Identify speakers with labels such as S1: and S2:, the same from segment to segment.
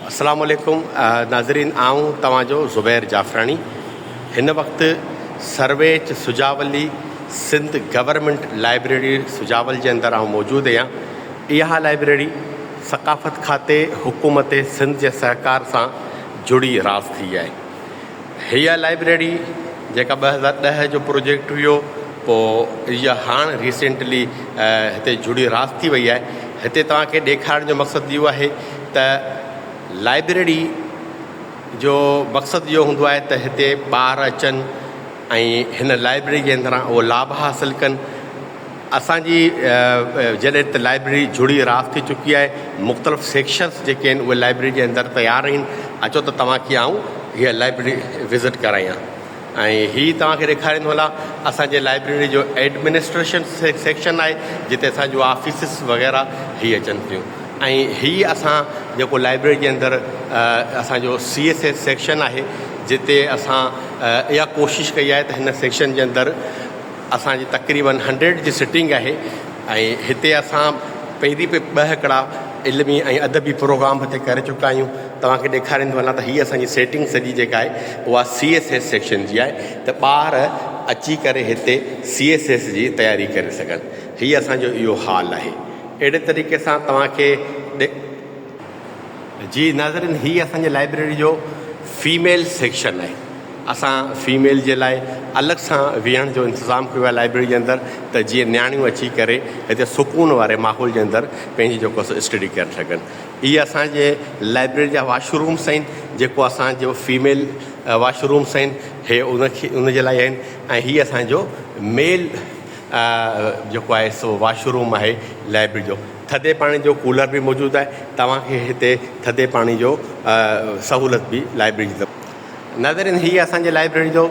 S1: السلام عليڪم ناظرين آئون توهان جو زبير جعفراڻي هن وقت سرويچ سجاولي سنڌ گورنمينٽ لائبريري سجاول جي اندر آئون موجود اهيان اها لائبريري ثقافت کاتي حڪومت سنڌ جي سهڪار سان جڙي راس ٿي آهي هيء لائبريري جيڪا ٻه هزار ڏهه جو پروجيڪٽ هيو پوء اها هاڻ ريسينٽلي هتي جڙي راس ٿي وئي آهي هتي توهان کي ڏيکارڻ جو مقصد اهو آهي ته لائبريري جو مقصد اهو هوندو آهي ته هتي ٻار اچن ۽ هن لائبريري جي اندران اهو لاڀ حاصل ڪن اسان جي جڏهن ته لائبريري جڙي راس ٿي چڪي آهي مختلف سيڪشنس جيڪي آهن اهي لائبريري جي اندر تيار آهن اچو ته توهان کي آئون هي لائبريري وزٽ ڪرايان ۽ هي توهان کي ڏيکاريندو هلان اسان جي لائبريري جو ايڊمنسٽريشن سيڪشن آهي جتي اسان جون آفيسز وغيره هي اچن ٿيون ۽ هي اسان جيڪو لائبريري جي اندر اسان جو سي ايس ايس سيڪشن آهي جتي اسان اها ڪوشش ڪئي آهي ته هن سيڪشن جي اندر اسان جي تقريبن هنڊريڊ جي سٽنگ آهي ۽ هتي اسان پهرين به ٻه هڪڙا علمي ۽ ادبي پروگرام به هتي ڪري چڪا آهيون توهان کي ڏيکارين ٿو وڃان ته هي اسان جي سيٽنگ سڄي جيڪا آهي اها سي ايس ايس سيڪشن جي آهي ته ٻار اچي ڪري هتي سي ايس ايس جي تياري ڪري سگهن هي اسان جو اهو حال آهي اهڙي طريقي سان توهان کي جي ناظرين هي اسان جي لائبريري جو فيميل سيڪشن آهي اسان فيميل جي لاء الڳ سان ويهڻ جو انتظام ڪيو آهي لائبريري جي اندر ته جيئن نياڻيون اچي ڪري هتي سڪون واري ماحول جي اندر پنهنجي جيڪو سو اسٽڊي ڪري سگهن هي اسان جي لائبريري جا واشرومس آهن جيڪو اسان جو فيميل واشرومس آهن هي ان کي ان جي لاء آهن ۽ هي اسان جو ميل جيڪو آهي سو واشروم آهي لائبريري جو ٿڌي پاڻي جو ڪولر به موجود آهي توهان کي هتي ٿڌي پاڻي جو سهولت به لائبرري جي طرف نظر هي اسان جي لائبرري جو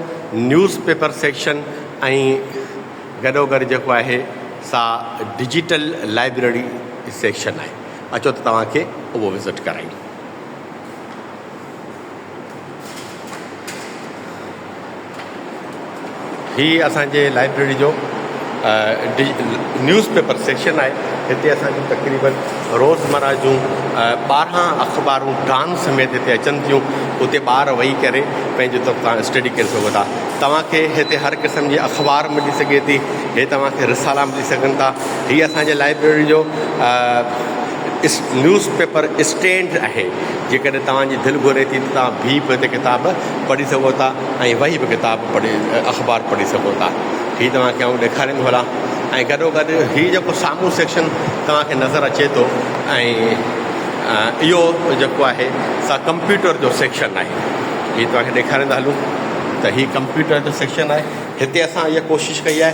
S1: نيوز پيپر سيڪشن ۽ گڏو گڏ جيڪو آهي سا ڊجيٽل لائبرري سيڪشن آهي اچو ته توهان کي اهو وزٽ ڪرايون هي اسان جي لائبريري جو نيوز پيپر سيڪشن آهي هتي اسان جون تقريبن روزمره جون ٻارهن اخبارون ڊان سميت هتي اچن ٿيون اتي ٻار ويهي ڪري پنهنجي طور تان اسٽڊي ڪري سگهو ٿا توهان کي هتي هر قسم جي اخبار ملي سگهي ٿي هي توهان کي رسالا ملي سگهن ٿا هي اسان جي لائبريري جو نيوز پيپر اسٽينڊ آهي، جيڪڏهن توهان جي دل گهري ٿي ته توهان بيهي به هتي ڪتاب پڙهي سگهو ٿا ۽ ويهي به ڪتاب پڙهي اخبار پڙهي سگهو ٿا. هي توهان کي آئون ڏيکاريم ٿو هلان ۽ گڏو گڏ هي جيڪو سامهون سيڪشن توهان کي نظر اچي ٿو ۽ اهو جيڪو آهي سا ڪمپيوٽر جو سيڪشن آهي. هي توهان کي ڏيکاريندا هلون ته هي ڪمپيوٽر جو سيڪشن آهي. هتي اسان اها ڪوشش ڪئي آهي.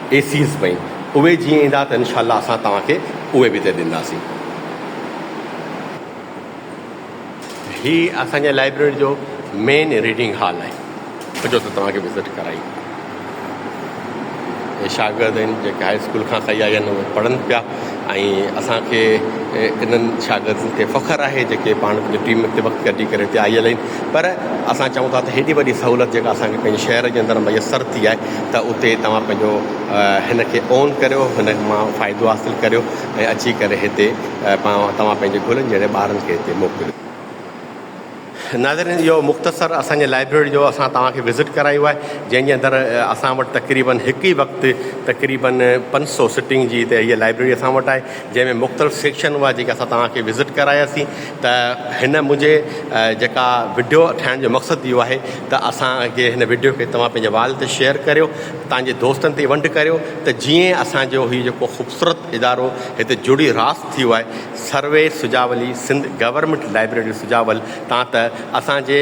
S1: اي سيز پئي اهي جيئن ايندا ته انشاء الله اسان توهان کي اهي به تي ڏينداسين. هي اسان جي لائبريري جو مين ريڊنگ هال آهي اچو ته توهان کي وزٽ ڪرايون. اهي شاگرد آهن جيڪي هاء اسڪول کان ڪئي آيا آهن اهي پڙهن پيا ۽ اسان کي انهن شاگردن تي فخر آهي جيڪي پاڻ پنهنجي ٽيم تي وقت ڪڍي ڪري هتي آيل آهن پر اسان چئون ٿا ته هيڏي وڏي سهولت جيڪا اسان کي پنهنجي شهر جي اندر ميسر ٿي آهي ته اتي توهان پنهنجو هن کي اون ڪريو هن مان فائدو حاصل ڪريو ۽ اچي ڪري هتي توهان پنهنجي گلن جهڙي ٻارن کي هتي موڪليو. ناظرين اهو مختصر اسان جي لائبريري جو اسان توهان کي وزٽ ڪرايو آهي جنهن جي اندر اسان وٽ تقريبن هڪ ئي وقت تقريبن پنج سو سٽنگ جي هتي هيء لائبريري اسان وٽ آهي. جنهن ۾ مختلف سيڪشن هئا جيڪي اسان توهان کي وزٽ ڪراياسين ته هن منهنجي جيڪا وڊيو ٺاهڻ جو مقصد اهو آهي ته اسان کي هن وڊيو کي توهان پنهنجي وال تي شيئر ڪريو تنهنجي دوستن تي ونڊ ڪريو ته جيئن اسان جو هي جيڪو خوبصورت ادارو هتي جڙي راس ٿيو آهي سروي سجاولي سنڌ گورنمينٽ لائبريري سجاول تان ته اسان جي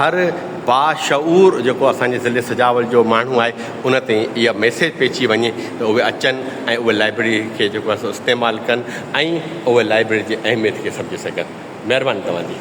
S1: هر باشعور جيڪو اسان جي ضلعي سجاول جو ماڻهو آهي ان تي اها ميسيج پئجي وڃي ته اهي اچن ۽ اهي لائبريري کي جيڪو آهي سو استعمال ڪن ۽ اهي لائبريري جي اهميت کي سمجهي سگهن. مهرباني توهان جي.